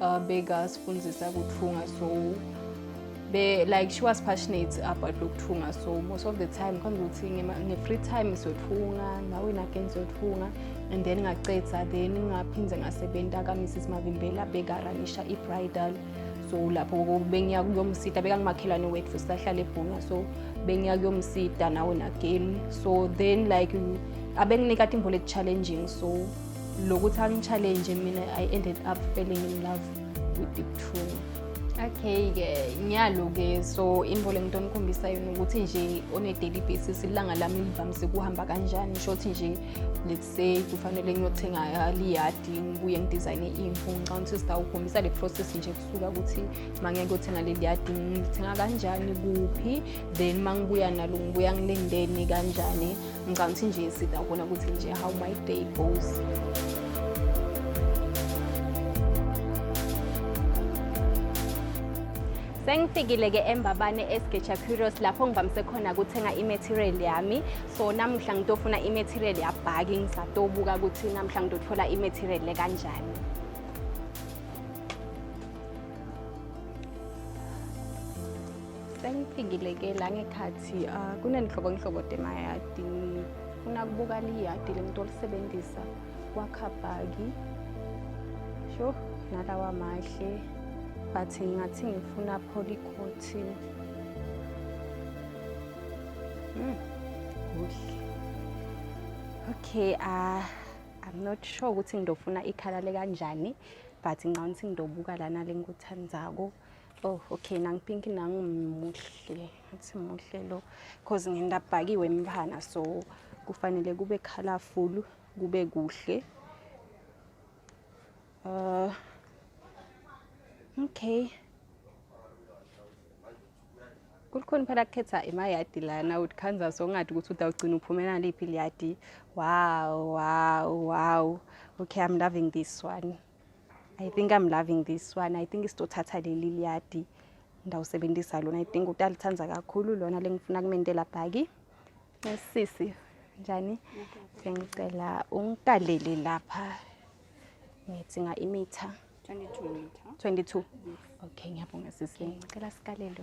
uh, bekasifundisa kuthunga so be like she was passionate about lokuthunga so most of the time khona ukuthi nge-free time siyothunga nawe nageni siyothunga and then ngacetha then ngaphinde ngasebenza kamrs mavimbela bekaranisha i-bridal so lapho bengiya kuyomsida bekangumakhelwane wethu sisahlala ebhunga so bengiya kuyomsida nawe nageni so then like abenginikade imbola eku-challenging so lokuthi angi-challenge mina i ended up falling in love with the true okay-ke ngiyalo-ke so into le nto onikhombisa yona ukuthi nje on a daily basis ilanga lami livamise kuhamba kanjani shothi nje let's say kufanele ngiyothenga liyadi ngibuye ngidizayine imvu ngicabanga ukuthi sitawukhombisa le process nje kusuka ukuthi uma ngeke kuyothenga leli yadi ngithenga kanjani kuphi then uma ngibuya nalo ngibuya ngilendeni kanjani ngicabanga ukuthi nje sida ubona ukuthi nje how my day goes sengifikile-ke embabane esgeja curios lapho ngivamise khona kuthenga imaterial yami so namuhla ngitofuna imaterial yabhaki ngisatobuka ukuthi namuhla ngitothola imaterial le kanjani sengifikile ke la ngekhathi uh, kunenhlobonhlobo temayadi ngifuna kubuka liyadi lento olisebenzisa wakhabhaki sho nalawa mahle but ngingathi ngifuna polycotin mm, kuhle okay uh, i'm not sure ukuthi ngidofuna ikhala lekanjani but ngicabanga ukuthi ngidobuka lana lengikuthandako Oh okay nangipink nangu muhle athi muhle lo because ngindabhakiwe emphana so kufanele kube colorful kube kuhle uh okay kulikhona phela kukhetha emayadi lana uthi kansas ongathi ukuthi udawugcina uphumela liphi liyadi wow wow wow okay i'm loving this one I think I'm loving this one. I think isitothatha leli liyadi ndawusebenzisa lona. I think utalithanda kakhulu lona lengifuna kumendela bhaki. Sisi njani? Sengicela ungikalele lapha. Ngidinga imitha. 22 meter. 22. Okay, ngiyabonga sisi. Ngicela sikalele.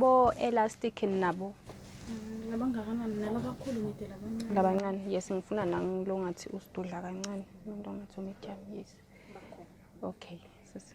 bo elastic nabo mm, labangakanani nala kakhulu ngide labancane labancane yes ngifuna nangilo ngathi usidudla kancane umuntu ongathi umedium yes okay sisi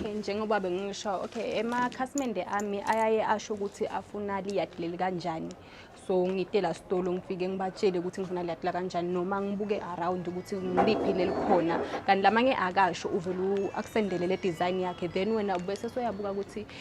okay njengoba bengisho okay emakhasimende ami ayaye asho ukuthi afuna liyadi leli kanjani so ngitela sitolo ngifike ngibatshele ukuthi ngifuna liyadi la kanjani noma ngibuke around ukuthi ngiliphi lelikhona kanti lamanye akasho uvele akusendele le design yakhe then wena bese soyabuka ukuthi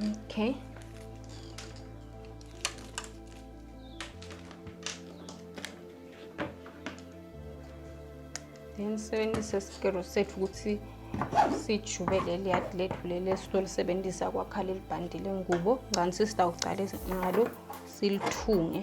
Okay. Then sebenzisa isikero sethu ukuthi sijube leli yadi lethu leli esitolisebenzisa kwakha leli bhandi lengubo ngani sisitawucala ngalo silithunge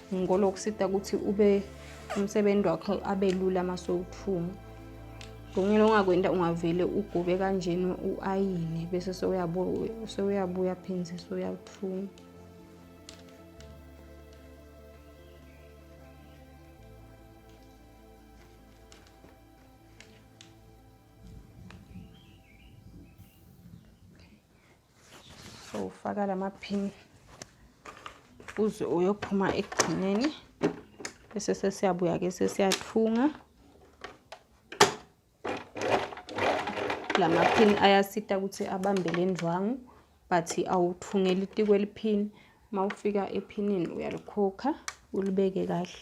ngikholwa ukusita ukuthi ube umsebenzi wakho abe lula uma sowuthunga ngonyela ongakwenta ungavele ugobe kanjena u-ayine bese sewuyabuya phinde sewuyathunga so ufaka lamaphini uze uyophuma ekugcineni bese sesiyabuya ke sesiyathunga lamaphini ayasita ukuthi abambe le ndwangu but awuthungeli itiko eliphini uma ufika ephinini uyalikhokha ulibeke kahle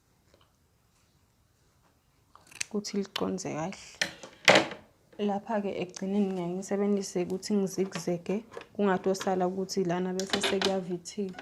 ukuthi liconze kahle lapha-ke ekugcineni ngiyaye ngisebenzise ukuthi ngizikuzeke kungatosala ukuthi lana bese sekuyavithika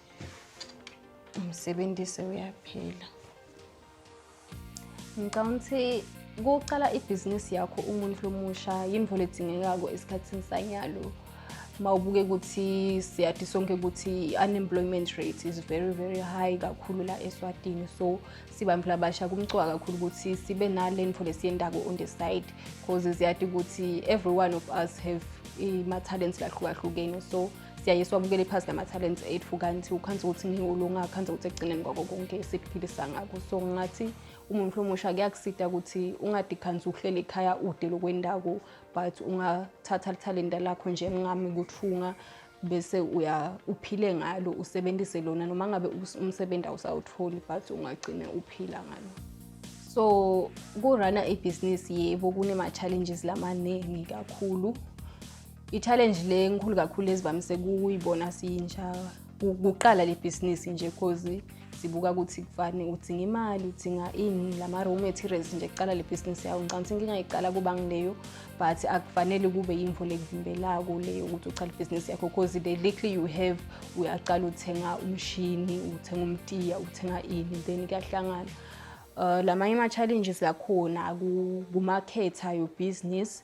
umsebenzi sewuyaphela ngicabanga ukuthi kuqala ibhizinisi yakho umuntu lomusha yinto ledingekako esikhathini sanyalo uma ubuke ukuthi siyadi sonke ukuthi i-unemployment rate is very very high kakhulu la eswatini so sibambela abasha kumcwa kakhulu ukuthi sibe nale nto lesiyendako on the side because ziyadi ukuthi every one of us have i-ma-talents lahlukahlukene so siyaye siwabukele phasi lama-talents ethu kanti ukhansi ukuthi ngiwulunga akhansi ukuthi ekugcineni kwako konke sikuphilisa ngako so ngathi umuntu omusha kuyakusida ukuthi ungade khansi uhlele ekhaya ude lokwendawo but ungathatha lithalenta lakho njengami kuthunga bese uya uphile ngalo usebenzise lona noma ngabe umsebenzi awusawutholi but ungagcina uphila ngalo so kurana ibhizinisi yebo kunema-challenges lamaningi kakhulu I-challenge le enkulu kakhulu ezivamise kuyibona siyintsha kuqala le bhizinisi nje cause sibuka ukuthi kufani udinga imali udinga ini lama-raw materials nje kuqala le bhizinisi yawo ngicanga ukuthi inkinga iqala kuba ngileyo but akufanele kube yimvo lekuvimbelako leyo ukuthi uqale ibhizinisi yakho because the likely you have uyaqala uthenga umshini uthenga umtiya uthenga ini then kuyahlangana Uh, lamanye ama-challenges akhona kumakhetha your business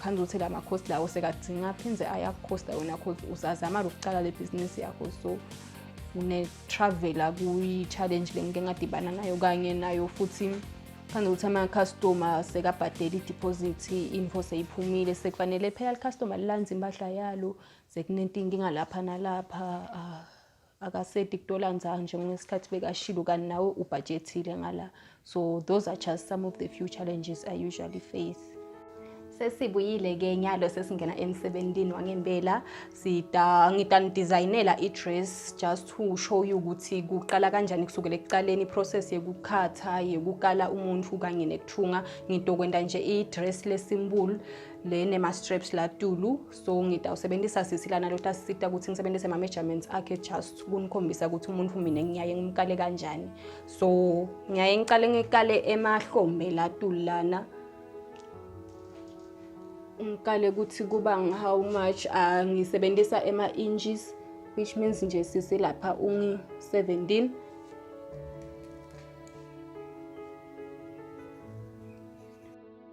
Khanza ukuthi la makhosi lawo sekadzinga aphinde ayakukhosta wena cause usazama lokucala le bhizinisi yakho so une-travela kuyi-challenge le ngike ngadibana nayo kanye nayo futhi phandle ukuthi ama-customer sekabhadela idiphozithi info seyiphumile sekufanele phela li-customer lilandze impahla yalo sekunentinkinga lapha nalapha uh, akasedi kutola nzanje ngesikhathi bekashilo kanti nawe ubhajethile ngala so those are just some of the few challenges i usually face sesibuyile ke nyalo sesingena emsebenzini wangempela sida ngitanidesignela i-dress just to show you ukuthi kuqala kanjani kusukela ekuqaleni process yekukhatha yekukala umuntu kanye nekuthunga ngitokwenda nje i-dress lesimbulu le nema-straps latulu so ngita usebenzisa sisi lana lotasisita ukuthi ngisebenzise ama-measurements akhe just kunikhombisa ukuthi umuntu mina ngiyaye ngimkale kanjani so ngiyaye ngicale ngikale emahlombe latuli lana ngikale ukuthi kuba how much uh, ngisebenzisa ema-inches which means nje sisi lapha ungi-17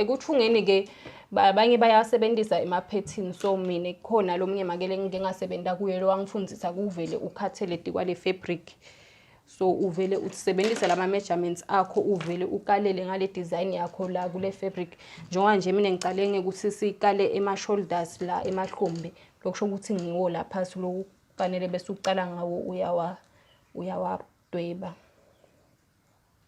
Ekuthungeni-ke abanye bayasebenzisa emaphethini so mina kukhona lo mnye makele engike ngasebenza kuye lo wangifundisa kuvele ukhathele dikwale fabric so uvele usebenzise lama measurements akho uvele ukalele ngale design yakho la kule fabric njengoba nje mina ngicale ngekuthi sikale ema shoulders la emahlombe lokusho ukuthi ngiwo la phasi loku fanele bese uqala ngawo uyawa uyawabdweba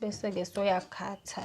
bese-ke soyakhatha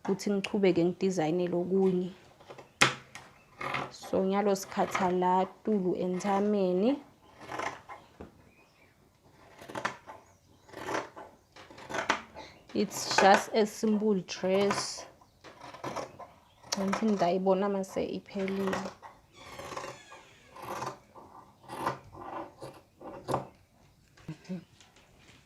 ukuthi ngichubeke ngidizayinele okunye so nyalo sikhatha la tulu enthameni it's just a simple dress ngicela ukuthi ngidayibona mase iphelile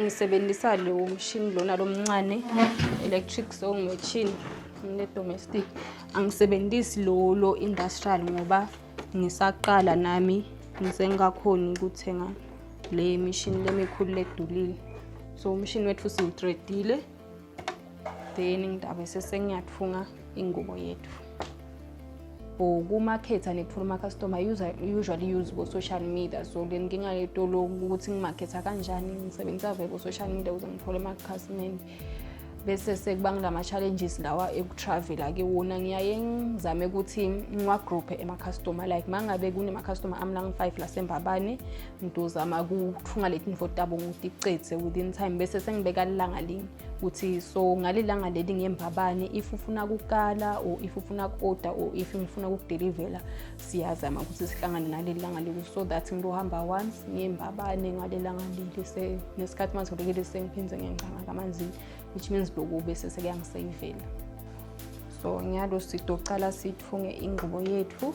ngisebenzisa lo mshini lona lomncane electric sewing machine nginedomestic angisebenzisi lo lo industrial ngoba ngisaqala nami ngisengakhoni ukuthenga le mishini lemikhulu ledulile so umshini wethu siwutredile then ngitabe sesengiyathunga ingubo yethu or kumakhetha nithola umakhastoma usually use bo-social media so le nkinga yetolo ukuthi ngimakhetha kanjani ngisebenzisa vele bo-social media ukuze ngithole amakhasimende bese sekuba ngilama-challenges lawa ekutravela-ke wona ngiyaye ngizame ukuthi ngiwagroupe emakhastoma like uma ngabe kunemakhastoma ami langi-five lasembabane ngizozama kuthunga leti nifo tabo ngitiqedze within time bese sengibeka lilanga linye ukuthi so ngalelanga leli ngemva bani if ufuna kukala or if ufuna ku-oda or if ngifuna kukudelivela siyazama ukuthi sihlangane ngaleli langa leli so that ngizohamba once ngemva bani ngalelanga leli nesikhathi uma sikulekele sengiphinde ngengcanga kamanzini which means lokhu bese sekuyangiseyivela so ngiyalo sitocala sithunge ingqubo yethu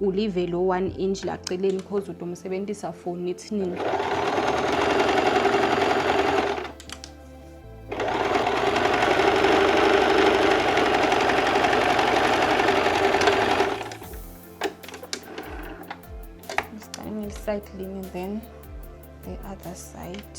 ulive lo one inch la celeni because utomsebenzisa for nithini side lean and then the other side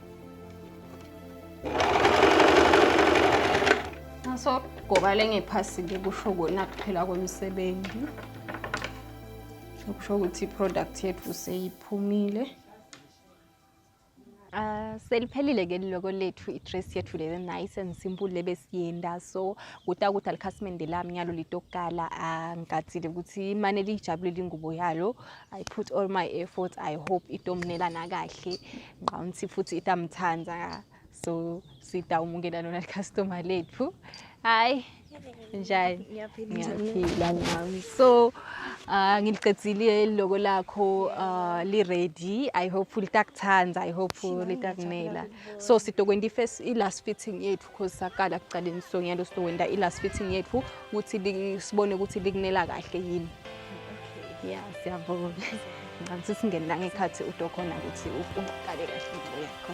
Ngasogobale ngephasile kusho kona kuphela kwemisebenzi. Kusho ukuthi i-product yethu seyiphumile. Uh, seliphelile ke liloko lethu i-dress yethu le nice and simple lebe siyenda so kuta ukuthi alikhasimende lami ngalo litokukala angikathile ah, ukuthi imane liyijabulile ingubo yalo i put all my efforts i hope itomnelana kahle nqawunthi futhi itamthanda so sida umukela lona customer lethu hayi njani ngiyaphila nami so uh, ngiliqedile loko lakho uh, li-ready i hope litakuthanda i hope litakunela so sitokwenta i-last fitting yethu course saqala kucaleni sonyalo sizokwenda i-last fitting yethu ukuthi sibone ukuthi likunela kahle yini ya siyabonga ngicela ukuthi singene la ngekhathi udo khona ukuthi uqale kahle into yakho